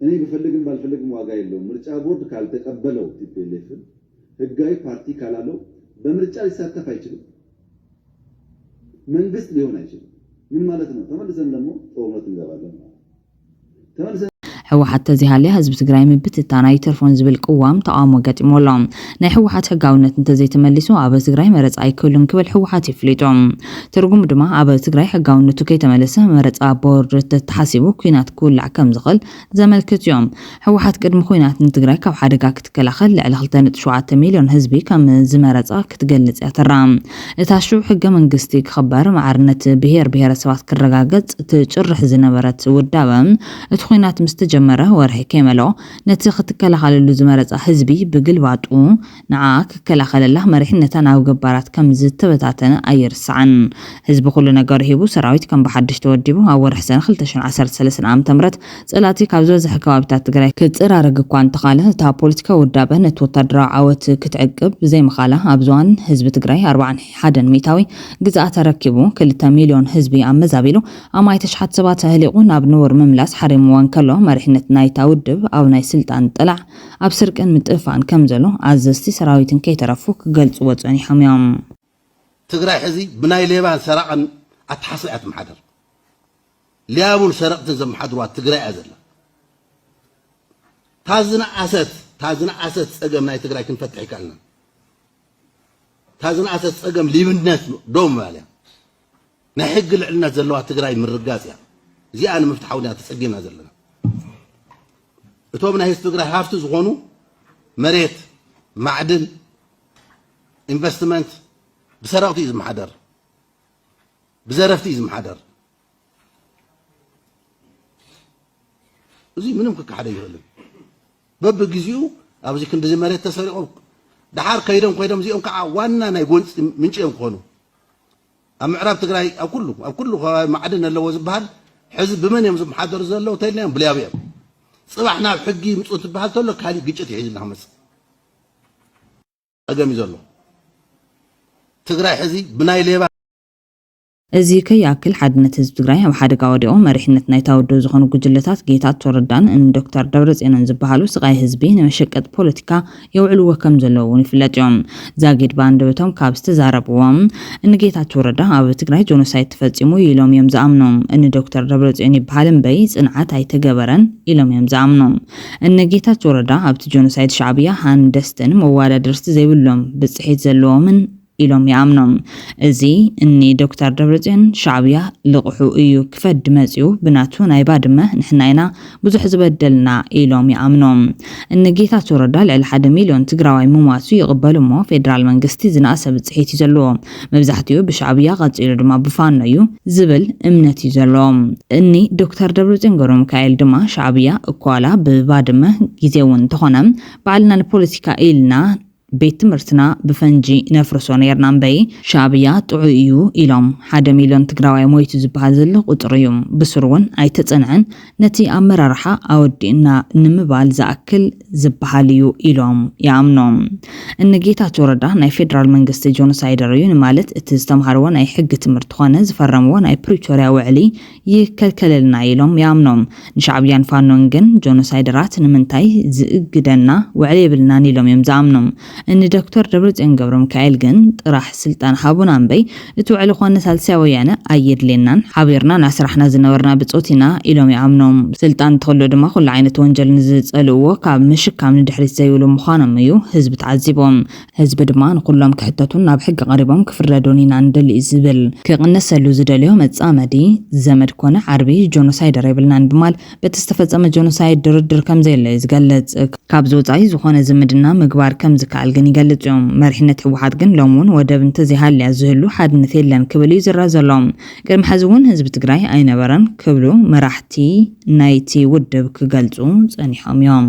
እኔ ብፈልግም ባልፈልግም ዋጋ የለውም ምርጫ ቦርድ ካልተቀበለው ቲፒኤልኤፍን ህጋዊ ፓርቲ ካላለው በምርጫ ሊሳተፍ ኣይችልም መንግስት ሊሆን ኣይችልም ምን ማለት ነው ተመልሰን ደሞ ጦርነት እንገባለን ማለት ነው ተመልሰን ህወሓት ተዘይሃልያ ህዝቢ ትግራይ ምብትታን ኣይተርፎን ዝብል ቅዋም ተቓውሞ ገጢምዎ ኣሎ። ናይ ህወሓት ሕጋዊነት እንተዘይተመሊሱ ኣብ ትግራይ መረፃ ኣይክህሉን ክብል ህወሓት የፍሊጡ። ትርጉሙ ድማ ኣብ ትግራይ ሕጋዊነቱ ከይተመለሰ መረፃ ቦርድ ተተሓሲቡ ኲናት ክውላዕ ከምዝኽእል ዘመልክት እዩ። ህወሓት ቅድሚ ዂናት ንትግራይ ካብ ሓደጋ ክትከላኸል ልዕሊ ክልተ ነጥቢ ሸውዓተ ሚልዮን ህዝቢ ከምዝመረፃ ክትገልፅ እያ ተራ እታ ሽዑ ሕገ መንግስቲ ክኽበር ማዕርነት ብሄር ብሄረሰባት ክረጋገፅ ትጭርሕ ዝነበረት ውዳበ እቲ ዂናት ምስተጀመረ ወርሒ ከይመልኦ ነቲ ክትከላኸለሉ ዝመረጻ ህዝቢ ብግልባጡ ንዓኣ ክከላኸለላ መሪሕነታ ናብ ገባራት ከም ዝተበታተነ ኣይርሳዕን። ህዝቢ ኩሉ ነገሩ ሂቡ ሰራዊት ከም ብሓድሽ ተወዲቡ ኣብ ወርሒ ሰነ ክልተ ሽሕን ዓሰርተ ሰለስተን ዓመተ ምህረት ጸላእቲ ካብ ዝበዝሐ ከባቢታት ትግራይ ክጸራረግ እኳ እንተኻለ እታ ፖለቲካዊ ውዳበ ነቲ ወታደራዊ ዓወት ክትዕቅብ ብዘይምኻላ ኣብዚ እዋን ህዝቢ ትግራይ ኣርብዓን ሓደን ሚእታዊ ግዝኣት ኣረኪቡ ክልተ ሚልዮን ህዝቢ ኣመዛቢሉ ኣማኢት ኣሽሓት ሰባት ኣህሊቑ ናብ ንቡር ምምላስ ሓሪምዎ እንከሎ፣ መሪሕነት ናይታ ውድብ ኣብ ናይ ስልጣን ጥላዕ፣ ኣብ ስርቅን ምጥፍፋእን ከምዘሎ ኣዘዝቲ ሰራዊትን ከይተረፉ ክገልጽዎ ጸኒሖም እዮም። ትግራይ ሕዚ ብናይ ሌባን ሰራቕን ኣተሓስባ እያ ትመሓደር። ሊያቡን ሰረቕትን ዘመሓድርዋ ትግራይ እያ ዘላ። እታ ዝነኣሰት እታ ዝነኣሰት ጸገም ናይ ትግራይ ክንፈትሕ ኣይከኣልናን። እታ ዝነኣሰት ጸገም ሊብነት ደው ምባል እያ። ናይ ሕጊ ልዕልነት ዘለዋ ትግራይ ምርጋፅ እያ። እዚኣ ንምፍትሓ እውን እያ ተፀጊምና ዘለና። እቶም ናይ ህዝቢ ትግራይ ሃፍቲ ዝኾኑ መሬት፣ ማዕድን፣ ኢንቨስትመንት ብሰረቕቲ እዩ ዝመሓደር፣ ብዘረፍቲ እዩ ዝመሓደር። እዚ ምንም ክከሓደ ይኽእልን በብግዚኡ ኣብዚ ክንዲዚ መሬት ተሰሪቑ ድሓር ከይዶም ኮይዶም እዚኦም ከዓ ዋና ናይ ጎንፂ ምንጪ እዮም ክኾኑ ኣብ ምዕራብ ትግራይ ኣብ ኩሉ ኣብ ኩሉ ከባቢ ማዕድን ኣለዎ ዝበሃል ሕዚ ብመን እዮም ዝመሓደሩ ዘለዉ እንተኢልናዮም ብልያቡ እዮም ፅባሕ ናብ ሕጊ ይምፁ እንትበሃል ተሎ ካሊእ ግጭት እዩ ሒዙ እናክመፅእ ፀገም እዩ ዘሎ ትግራይ ሕዚ ብናይ ሌባ እዚ ከይኣክል ሓድነት ህዝቢ ትግራይ ኣብ ሓደጋ ወዲቑ መሪሕነት ናይታ ውድብ ዝኾኑ ጉጅለታት ጌታቸው ረዳን ን ዶክተር ደብረፅዮንን ዝበሃሉ ስቓይ ህዝቢ ንመሸቀጢ ፖለቲካ የውዕልዎ ከም ዘለዉ እውን ይፍለጥ እዩ። ዛጊድ ብኣንደበቶም ካብ ዝተዛረብዎ እኒ ጌታቸው ረዳ ኣብ ትግራይ ጆኖሳይድ ተፈፂሙ እዩ ኢሎም እዮም ዝኣምኑ። እኒ ዶክተር ደብረፅዮን ይበሃል እምበይ ፅንዓት ኣይተገበረን ኢሎም እዮም ዝኣምኑ። እኒ ጌታቸው ረዳ ኣብቲ ጆኖሳይድ ሻዕብያ ሃንደስትን መዋዳደርቲ ዘይብሎም ብፅሒት ዘለዎምን ኢሎም ይኣምኑ። እዚ እኒ ዶክተር ደብረፅዮን ሻዕብያ ልቕሑ እዩ ክፈዲ መፂኡ ብናቱ ናይ ባድመ ንሕና ኢና ብዙሕ ዝበደልና ኢሎም ይኣምኑ። እኒ ጌታቸው ረዳ ልዕሊ ሓደ ሚልዮን ትግራዋይ ምሟቱ ይቕበሉ እሞ ፌዴራል መንግስቲ ዝነኣሰ ብፅሒት እዩ ዘለዎ መብዛሕቲኡ ብሻዕብያ ቐፂሉ ድማ ብፋኖ እዩ ዝብል እምነት እዩ ዘለዎም። እኒ ዶክተር ደብረፅዮን ገብረሚካኤል ድማ ሻዕብያ እኳላ ብባድመ ጊዜዊ እንተኾነ ባዕልና ንፖለቲካ ኢልና ቤት ትምህርትና ብፈንጂ ነፍርሶ ነይርና እምበይ ሻእብያ ጥዑይ እዩ ኢሎም ሓደ ሚልዮን ትግራዋይ ሞይቱ ዝበሃል ዘሎ ቁፅሪ እዩ ብስሩ እውን ኣይተፀንዐን ነቲ ኣመራርሓ ኣወዲእና ንምባል ዝኣክል ዝበሃል እዩ ኢሎም ይኣምኑ እኒ ጌታቸው ረዳ ናይ ፌደራል መንግስቲ ጆኖሳይደር እዩ ንማለት እቲ ዝተምሃርዎ ናይ ሕጊ ትምህርቲ ኮነ ዝፈረምዎ ናይ ፕሪቶሪያ ውዕሊ ይከልከለልና ኢሎም ይኣምኑ። ንሻዕብያን ፋኖን ግን ጆኖሳይደራት ንምንታይ ዝእግደና ውዕል የብልናን ኢሎም እዮም ዝኣምኑ። እኒ ዶክተር ደብረፅዮን ገብረሚካኤል ግን ጥራሕ ስልጣን ሃቡና እምበይ እቲ ውዕሊ ኮነ ሳልሳይ ወያነ ኣየድልየናን ሓቢርና እናሰራሕና ዝነበርና ብፆት ኢና ኢሎም ይኣምኑ። ስልጣን እንትህሉ ድማ ኩሉ ዓይነት ወንጀል ንዝፀልእዎ ካብ ምሽካም ንድሕሪት ዘይብሉ ምዃኖም እዩ ህዝቢ ተዓዚቡ። ህዝቢ ድማ ንኹሎም ክሕተቱን ናብ ሕጊ ቀሪቦም ክፍረዱን ኢና ንደሊ እዩ ዝብል። ክቕነሰሉ ዝደልዮ መፃመዲ፣ ዘመድ ኮነ ዓርቢ ጆኖሳይደር የብልናን ብማል በቲ ዝተፈፀመ ጆኖሳይድ ድርድር ከምዘየለ እዩ ዝገልፅ። ካብዚ ወፃኢ ዝኾነ ዝምድና ምግባር ከምዝከኣል ግን ይገልፅ እዩ። መሪሕነት ህወሓት ግን ሎሚ እውን ወደብ እንተዘይሃልያ ዝህሉ ሓድነት የለን ክብል እዩ ዝረኣ ዘሎ። ቅድሚ ሐዚ እውን ህዝቢ ትግራይ ኣይነበረን ክብሉ መራሕቲ ናይቲ ውድብ ክገልፁ ፀኒሖም እዮም።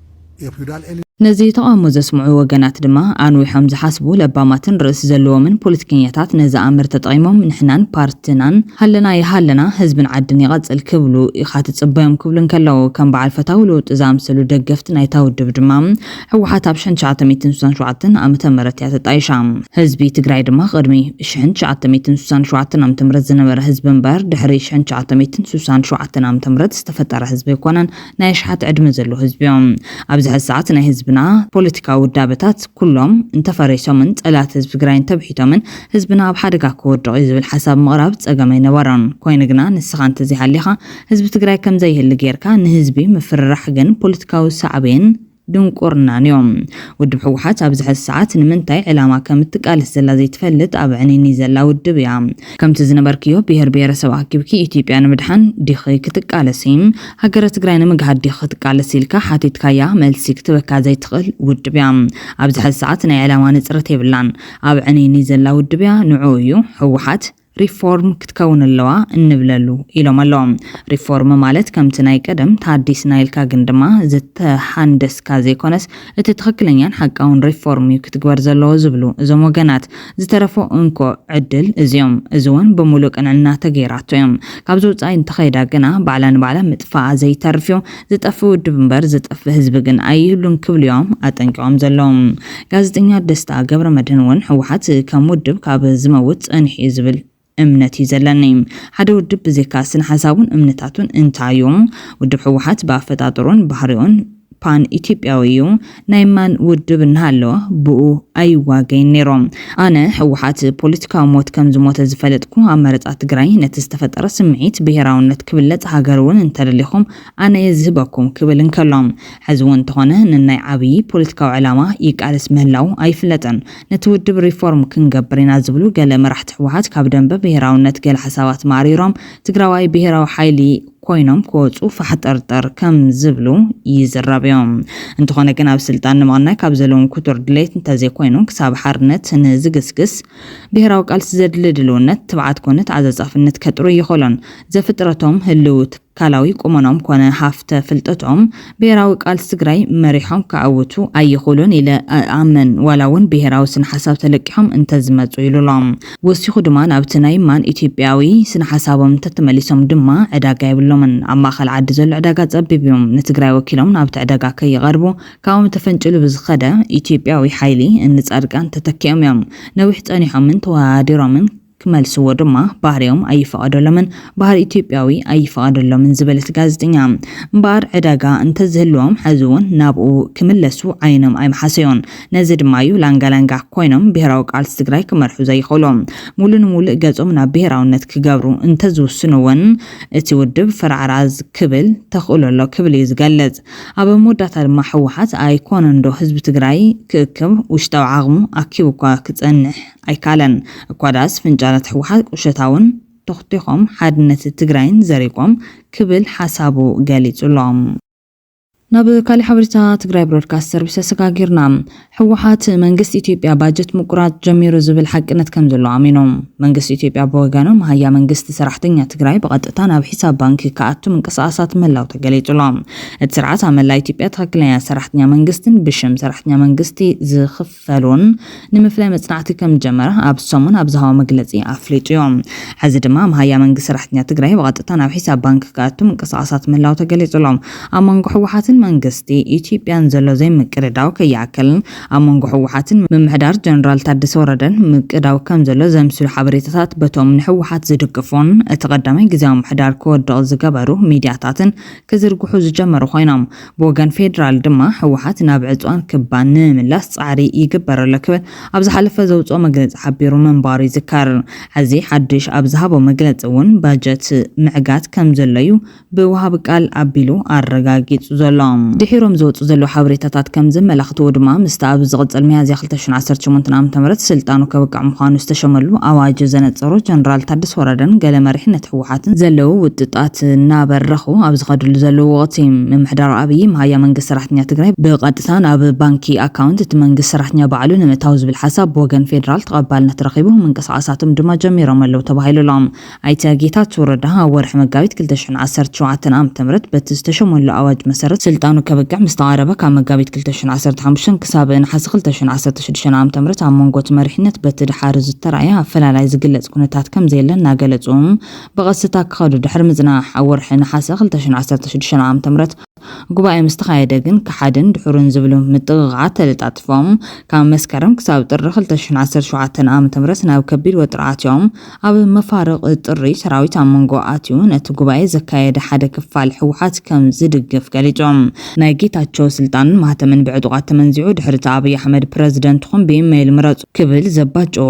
ነዚ ተቓውሞ ዘስምዑ ወገናት ድማ ኣንዊሖም ዝሓስቡ ለባማትን ርእሲ ዘለዎምን ፖለቲከኛታት ነዚ ኣምር ተጠቒሞም ንሕናን ፓርትናን ሃለና ይሃለና ህዝብን ዓድን ይቐጽል ክብሉ ኢኻ ትጽበዮም ክብሉ እንከለዉ ከም በዓል ፈታዊ ለውጢ ዝኣምሰሉ ደገፍቲ ናይታ ውድብ ድማ ህወሓት ኣብ ሽሕን ትሽዓተ ሚእትን ስሳን ሸውዓተን ዓመተ ምህረት እያ ተጣይሻ። ህዝቢ ትግራይ ድማ ቅድሚ ሽሕን ትሽዓተ ሚእትን ስሳን ሸውዓተን ዓመተ ምህረት ዝነበረ ህዝቢ እምበር ድሕሪ ሽሕን ትሽዓተ ሚእትን ስሳን ሸውዓተን ዓመተ ምህረት ዝተፈጠረ ህዝቢ ኣይኮነን። ናይ ኣሽሓት ዕድመ ዘለዎ ህዝቢዮ። ኣብዚ ሐዚ ሰዓት ናይ ህዝብና ፖለቲካዊ ውዳበታት ኩሎም እንተፈሪሶምን ፀላእቲ ህዝቢ ትግራይ እንተብሒቶምን ህዝብና ኣብ ሓደጋ ክወድቕ እዩ ዝብል ሓሳብ ምቕራብ ፀገም ኣይነበሮን። ኮይኑ ግና ንስኻ እንተዘይሃሊኻ ህዝቢ ትግራይ ከምዘይህሊ ገይርካ ንህዝቢ ምፍርራሕ ግን ፖለቲካዊ ሳዕቤን ድንቁርናን ዩ። ውድብ ህወሓት ኣብዚ ሐዚ ሰዓት ንምንታይ ዕላማ ከም እትቃለስ ዘላ ዘይትፈልጥ ኣብ ዕንይንይ ዘላ ውድብ እያ። ከምቲ ዝነበርክዮ ብሄር ብሄረሰብ ኣኪብኪ ኢትዮጵያ ንምድሓን ዲኺ ክትቃለሲ? ሃገረ ትግራይ ንምግሃድ ዲኺ ክትቃለሲ? ኢልካ ሓቲትካያ መልሲ ክትበካ ዘይትኽእል ውድብ እያ። ኣብዚ ሐዚ ሰዓት ናይ ዕላማ ንፅረት የብላን። ኣብ ዕንይንይ ዘላ ውድብ እያ። ንዑኡ እዩ ህወሓት። ሪፎርም ክትከውን ኣለዋ እንብለሉ ኢሎም ኣለዉ ሪፎርም ማለት ከምቲ ናይ ቀደም ታዲስና ኢልካ ግን ድማ ዝተሓንደስካ ዘይኮነስ እቲ ትኽክለኛን ሓቃውን ሪፎርም እዩ ክትግበር ዘለዎ ዝብሉ እዞም ወገናት ዝተረፎ እንኮ ዕድል እዚዮም እዚ ውን ብሙሉእ ቅንዕና ተገይራቶ እዮም ካብዚ ውፃኢ እንተኸይዳ ግና ባዕላ ንባዕላ ምጥፋኣ ዘይተርፍ እዩ ዝጠፍእ ውድብ እምበር ዝጠፍእ ህዝቢ ግን ኣይህሉን ክብሉ'ዮም ኣጠንቂቖም ዘለዉ። ጋዜጠኛ ደስታ ገብረመድህን እውን ህወሓት ከም ውድብ ካብ ዝመውት ጸኒሑ'ዩ ዝብል እምነት'ዩ ዘለኒ። ሓደ ውድብ ብዘይካ ስነሓሳቡን እምነታቱን እንታይ'ዩ? ውድብ ህወሓት ብኣፈጣጥርኡን ባህሪኡን ፓን ኢትዮጵያዊ'ዩ። ናይ ማን ውድብ እናሃለወ ብኡ ኣይዋገይን ነይሮ። ኣነ ህወሓት ፖለቲካዊ ሞት ከም ዝሞተ ዝፈለጥኩ ኣብ መረፃ ትግራይ ነቲ ዝተፈጠረ ስምዒት ብሄራውነት ክብለፅ ሃገር እውን እንተደሊኹም ኣነ እየ ዝህበኩም ክብል እንከሎ ሕዚ እውን እንተኾነ ንናይ ዓብዪ ፖለቲካዊ ዕላማ ይቃለስ ምህላው ኣይፍለጥን ነቲ ውድብ ሪፎርም ክንገብር ኢና ዝብሉ ገለ መራሕቲ ህወሓት ካብ ደንበ ብሄራውነት ገለ ሓሳባት ማእሪሮም ትግራዋይ ብሄራዊ ሓይሊ ኮይኖም ክወጹ ፋሕጠርጠር ከም ዝብሉ ይዝረብዮ። እንተኾነ ግን ኣብ ስልጣን ንምቕናይ ካብ ዘለዎም ክቱር ድሌት እንተዘይኮይኑ ክሳብ ሓርነት ንዝግስግስ ብሄራዊ ቃልሲ ዘድሊ ድልውነት፣ ትብዓት ኮነ ተዓጻጻፍነት ከጥርዩ ኣይኸሎን። ዘፍጥረቶም ህልዊ ትካላዊ ቁመኖም ኮነ ሃፍተ ፍልጠቶም፣ ብሄራዊ ቃልሲ ትግራይ መሪሖም ከዐውቱ ኣይኽእሉን ኢለ እኣምን፣ ዋላ ውን ብሄራዊ ስነሓሳብ ተለቂሖም እንተዝመፁ ኢሉ ኣሎ። ወሲኹ ድማ ናብቲ ናይ ማን ኢትዮጵያዊ ስነሓሳቦም እንተተመሊሶም ድማ ዕዳጋ የብሎምን፣ ኣብ ማእኸል ዓዲ ዘሎ ዕዳጋ ፀቢብ ዩ፣ ንትግራይ ወኪሎም ናብቲ ዕዳጋ ከይቐርቡ ካብኦም ተፈንጭሉ ብዝኸደ ኢትዮጵያዊ ሓይሊ እኒ ፃድቃን ተተኪኦም ዮም ነዊሕ ፀኒሖምን ተወሃሃዲሮምን ክመልስዎ ድማ ባህርዮም ኣይፈቐደሎምን፣ ባህሪ ኢትዮጵያዊ ኣይፈቐደሎምን ዝበለት ጋዜጠኛ፣ እምበኣር ዕዳጋ እንተዝህልዎም ሕዚ'ውን ናብኡ ክምለሱ ዓይኖም ኣይምሓሰዮን። ነዚ ድማ'ዩ ላንጋላንጋ ኮይኖም ብሄራዊ ቃልሲ ትግራይ ክመርሑ ዘይኽእሎም። ሙሉ ንሙሉእ ገፆም ናብ ብሄራውነት ክገብሩ እንተዝውስኑ'ውን እቲ ውድብ ፈራዕራዝ ክብል ተኽእሎ ኣሎ ክብል እዩ ዝገልፅ። ኣብ መወዳእታ ድማ ህወሓት ኣይኮነንዶ ህዝቢ ትግራይ ክእክብ ውሽጣዊ ዓቕሙ ኣኪቡ'ኳ ክፀንሕ ኣይካለን እኳ ድኣስ ፍንጫላት ህወሓት ቁሸታውን ቶኽቲኾም ሓድነት ትግራይን ዘሪቆም ክብል ሓሳቡ ገሊፁ'ሎ። ናብ ካሊእ ሓበሬታ ትግራይ ብሮድካስት ሰርቪስ ተሰጋጊርና። ህወሓት መንግስቲ ኢትዮጵያ ባጀት ምቁራፅ ጀሚሩ ዝብል ሓቅነት ከምዘለዎ ኣሚኑ። መንግስቲ ኢትዮጵያ ብወገኑ መሃያ መንግስቲ ሰራሕተኛ ትግራይ ብቐጥታ ናብ ሒሳብ ባንኪ ክኣቱ ምንቅስቓሳት ምህላው ተገሊፁ'ሎ። እቲ ስርዓት ኣብ መላእ ኢትዮጵያ ትኽክለኛ ሰራሕተኛ መንግስቲን ብሽም ሰራሕተኛ መንግስቲ ዝኽፈል ሳሎን ንምፍላይ መፅናዕቲ ከምዝጀመረ ኣብ ሰሙን ኣብ ዝሃቦ መግለፂ ኣፍሊጡ ዩ። ሐዚ ድማ መሃያ መንግስቲ ሰራሕተኛ ትግራይ ብቐጥታ ናብ ሒሳብ ባንኪ ክኣቱ ምንቅስቓሳት ምህላው ተገሊፁ ኣሎ። ኣብ መንጎ ህወሓትን መንግስቲ ኢትዮጵያን ዘሎ ዘይምቅድዳው ከይኣክል ኣብ መንጎ ህወሓትን ምምሕዳር ጀነራል ታደሰ ወረደን ምቅዳው ከምዘሎ ዘምስሉ ሓበሬታታት በቶም ንህወሓት ዝድግፉን እቲ ቀዳማይ ግዝያዊ ምምሕዳር ክወድቕ ዝገበሩ ሚድያታትን ክዝርግሑ ዝጀመሩ ኮይኖም ብወገን ፌዴራል ድማ ህወሓት ናብ ዕፅዋን ክባን ንምምላስ ፃዕሪ ይግበር ኣሎ ክብል ኣብ ዝሓለፈ ዘውፅኦ መግለፂ ሓቢሩ ምንባሩ ይዝከር። ሐዚ ሓዱሽ ኣብ ዝሃቦ መግለፂ እውን ባጀት ምዕጋት ከም ዘሎ እዩ ብወሃቢ ቃል ኣቢሉ ኣረጋጊፁ ዘሎ። ድሒሮም ዝወፁ ዘለዉ ሓበሬታታት ከም ዘመላኽትዎ ድማ ምስቲ ኣብ ዝቕፅል ሚያዝያ ክልተ ሽሕን ዓሰርተ ሸሞንተን ዓመተ ምህረት ስልጣኑ ከብቅዕ ምዃኑ ዝተሸመሉ ኣዋጅ ዘነፀሮ ጀነራል ታደሰ ወረደን ገለ መሪሕነት ስርዓት ህወሓትን ዘለዉ ውጥጣት እናበረኹ ኣብ ዝኸድሉ ዘለዉ ወቕቲ፣ ምምሕዳር ኣብዪ መሃያ መንግስቲ ሰራሕተኛ ትግራይ ብቐጥታ ናብ ባንኪ ኣካውንት እቲ መንግስቲ ሰራሕተኛ ባዕሉ ንምእታው ዝብል ሓሳብ ብወገን ፌደራል ተቐባልነት ረኺቡ ምንቅስቓሳቶም ድማ ጀሚሮም ኣለዉ ተባሂሉ ኣሎ። ኣይተ ጌታቸው ረዳ ኣብ ወርሒ መጋቢት ክልተ ሽሕን ዓሰርተ ሸውዓተን ዓመተ ምህረት በቲ ዝተሸመሉ ኣዋጅ መሰረት ስልጣኑ ከብቅዕ ምስተቓረበ ካብ መጋቢት ክልተ ሽሕን ዓሰርተ ሓሙሽተን ክሳብ ነሓሰ ክልተ ሽሕን ዓሰርተ ሽዱሽተ ን ዓ.ም ኣብ መንጎ እቲ መሪሕነት በቲ ደሓር ዝተራእየ ኣፈላላይ ዝግለጽ ኩነታት ከምዘየለ እናገለጹ ብቐስታ ክኸዱ ድሕሪ ምጽናሕ ኣብ ወርሒ ነሓሰ ክልተ ሽሕን ዓሰርተ ሽዱሽተን ዓ.ም ጉባኤ ምስ ተኻየደ ግን ከሓድን ድሑርን ዝብሉ ምጥቕቓዓት ተለጣጢፎም ካብ መስከረም ክሳብ ጥሪ ክልተ ሽሕን ዓሰርተ ሸውዓተን ዓ.ም ናብ ከቢድ ወጥሪ ኣትዮም ኣብ መፋርቕ ጥሪ ሰራዊት ኣብ መንጎ ኣትዩ ነቲ ጉባኤ ዘካየደ ሓደ ክፋል ህወሓት ከም ዝድግፍ ገሊፆም። ናይ ጌታቸው ስልጣንን ማህተምን ብዕጡቓት ተመንዚዑ ድሕሪ እቲ ኣብይ ኣሕመድ ፕረዚደንትኹም ብኢመይል ምረፁ ክብል ዘባጨዎ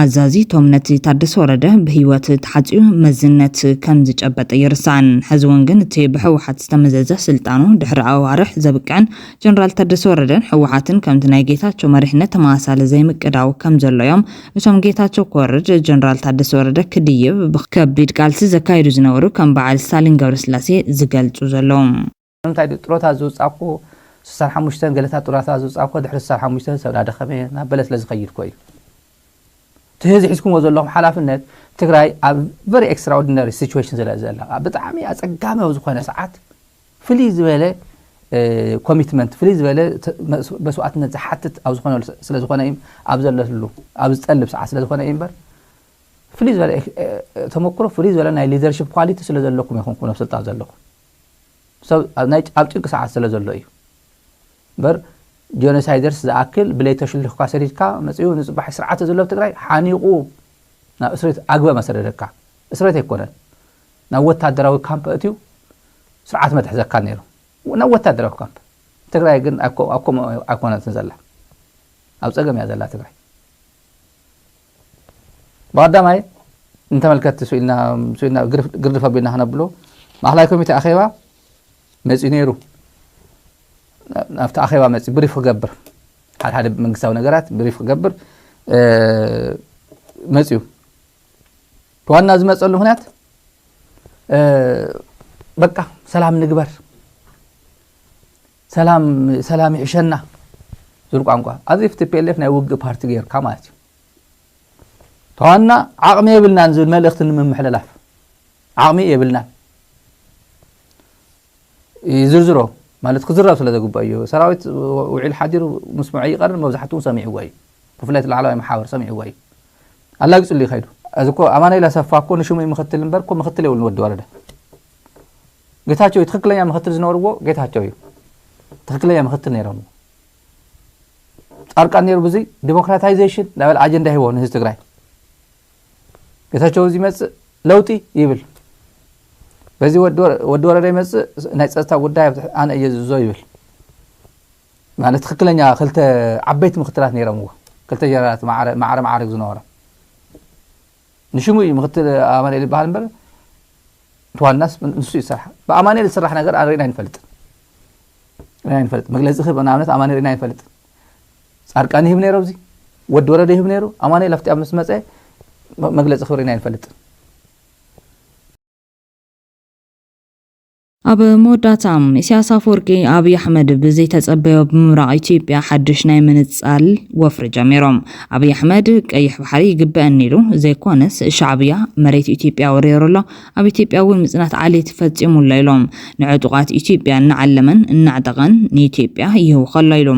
ኣዛዚ እቶም ነቲ ታደሰ ወረደ ብህይወት ተሓፂዩ መዝነት ከም ዝጨበጠ ኣይርሳዕን። ሕዚ እውን ግን እቲ ብህወሓት ዝተመዘዘ ስልጣኑ ድሕሪ ኣዋርሕ ዘብቅዕን ጀነራል ታደሰ ወረደን ህወሓትን ከምቲ ናይ ጌታቸው መሪሕነት ተመሳሳሊ ዘይምቅዳው ከም ዘሎ እዮም እቶም ጌታቸው ክወርድ ጀነራል ታደሰ ወረደ ክድይብ ብከቢድ ቃልሲ ዘካይዱ ዝነበሩ ከም በዓል ስታሊን ገብረስላሴ ዝገልፁ ዘለዉ። ንምንታይ ድዩ ጥሮታ ዝውጻእኩ ስሳን ሓሙሽተን ገለታት ጥሮታ ዝውጻእኩ ድሕሪ ስሳን ሓሙሽተን ሰብ ናደኸመ እየ ናበለ ስለ ዝኸይድ እኮ እዩ እቲ ህዚ ሒዝኩምዎ ዘለኹም ሓላፍነት ትግራይ ኣብ ቨሪ ኤክስትራኦርዲነሪ ሲቹዌሽን ስለ ዘላ ብጣዕሚ ኣጸጋሚ ኣብ ዝኾነ ሰዓት ፍልይ ዝበለ ኮሚትመንት ፍልይ ዝበለ መስዋእትነት ዝሓትት ኣብ ዝኾነሉ ስለ ዝኾነ እዩ ኣብ ዘለሉ ኣብ ዝጠልብ ሰዓት ስለ ዝኾነ እዩ እምበር ፍልይ ዝበለ ተመክሮ ፍልይ ዝበለ ናይ ሊደርሽፕ ኳሊቲ ስለ ዘለኩም ኢኹም ኩነ ስልጣን ዘለኹም ሰብ ኣብ ጭንቂ ሰዓት ስለ ዘሎ እዩ እምበር ጆኖሳይደርስ ዝኣክል ብለይ ተሽልኽካ ሰዲድካ መፅኡ ንፅባሕ ስርዓተ ዘሎ ኣብ ትግራይ ሓኒቑ ናብ እስሬት ኣግበ መሰደደካ እስሬት ኣይኮነን ናብ ወታደራዊ ካምፕ ኣእትዩ ስርዓት መትሕዘካ ነይሩ ናብ ወታደራዊ ካምፕ ትግራይ ግን ኣብ ከምኡ ኣይኮነትን ዘላ ኣብ ፀገም እያ ዘላ ትግራይ ብቀዳማይ ንተመልከትቲ ስኢልና ግርድፍ ኣቢልና ክነብሎ ማእኸላይ ኮሚቴ ኣኼባ መፂኡ ነይሩ ናብቲ ኣኼባ መፂ ብሪፍ ክገብር ሓደ ሓደ መንግስታዊ ነገራት ብሪፍ ክገብር መፂኡ ዋና ዝመፀሉ ምክንያት በቃ ሰላም ንግበር ሰላም ይሕሸና ዝብል ቋንቋ ኣዚ ቲፒኤልኤፍ ናይ ውግእ ፓርቲ ገይርካ ማለት እዩ ተዋና ዓቕሚ የብልናን ዝብል መልእኽቲ ንምምሕልላፍ ዓቕሚ የብልናን ይዝርዝሮ ማለት ክዝረብ ስለ ዘግብኦ ኢዩ። ሰራዊት ውዒሉ ሓዲሩ ምስምዑ ኣይቀርን፣ መብዛሕትኡ ሰሚዕዎ ኢዩ። ብፍላይ እቲ ላዕለዋይ መሓውር ሰሚዕዎ ኢዩ። ኣላጊጹሉ ኢዩ ከይዱ። እዚ እኮ ኣማኑኤል ኣሰፋ እኮ ንሽሙ እዩ ምክትል እምበር እኮ ምክትል የብሉን ወዲ ወረደ ጌታቸው እዩ ትክክለኛ ምክትል ዝነበርዎ ጌታቸው እዩ ትክክለኛ ምክትል ነይሮም ጻርቃን ነይሩ ብዙይ ዲሞክራታይዜሽን ዳበል ኣጀንዳ ሂቦ ንህዝቢ ትግራይ ጌታቸው እዚ ይመፅእ ለውጢ ይብል በዚ ወዲ ወረደ ይመፅእ ናይ ፀጥታ ጉዳይ ኣነ እየ ዝዞ ይብል ማለት ትክክለኛ ክልተ ዓበይቲ ምክትላት ነይረምዎ ክልተ ጀነራላት ማዕረ ማዕርግ ዝነበሮ ንሽሙ እዩ ምክትል ኣማንኤል ይበሃል እምበር ዋናስ ንሱ እዩ ዝስራሕ ብኣማንኤል ዝስራሕ ነገር ሪእና ይንፈልጥ ሪእና ይንፈልጥ መግለፂ ክህብ ንኣብነት ኣማንኤል ሪእና ይንፈልጥ ፃድቃን ይህብ ነይሩ ኣብዚ ወዲ ወረደ ይህብ ነይሩ ኣማኑኤል ኣብቲ ኣብ ምስ መፀ መግለፂ ክብሪ ኢና ይንፈልጥን ኣብ መወዳእታ ኢሳያስ ኣፈወርቂ ኣብይ ኣሕመድ ብዘይተጸበዮ ብምብራቕ ኢትዮጵያ ሓድሽ ናይ ምንጻል ወፍሪ ጀሚሮም። ኣብይ ኣሕመድ ቀይሕ ባሕሪ ይግበአኒ ኢሉ ዘይኮነስ ሻዕብያ መሬት ኢትዮጵያ ወሪሩ ኣሎ ኣብ ኢትዮጵያ እውን ምፅናት ዓሌት ፈፂሙ ኣሎ ኢሎም። ንዕጡቓት ኢትዮጵያ እናዓለመን እናዕጠቐን ንኢትዮጵያ ይህውኽ ኣሎ ኢሉ።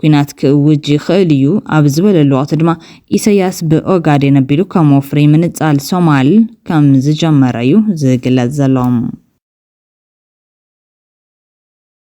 ኲናት ክእውጅ ይኽእል እዩ ኣብ ዝበለሉ ወቕቲ ድማ ኢሰያስ ብኦጋዴን ኣቢሉ ከም ወፍሪ ምንፃል ሶማል ከም ዝጀመረ እዩ ዝግለፅ ዘሎ።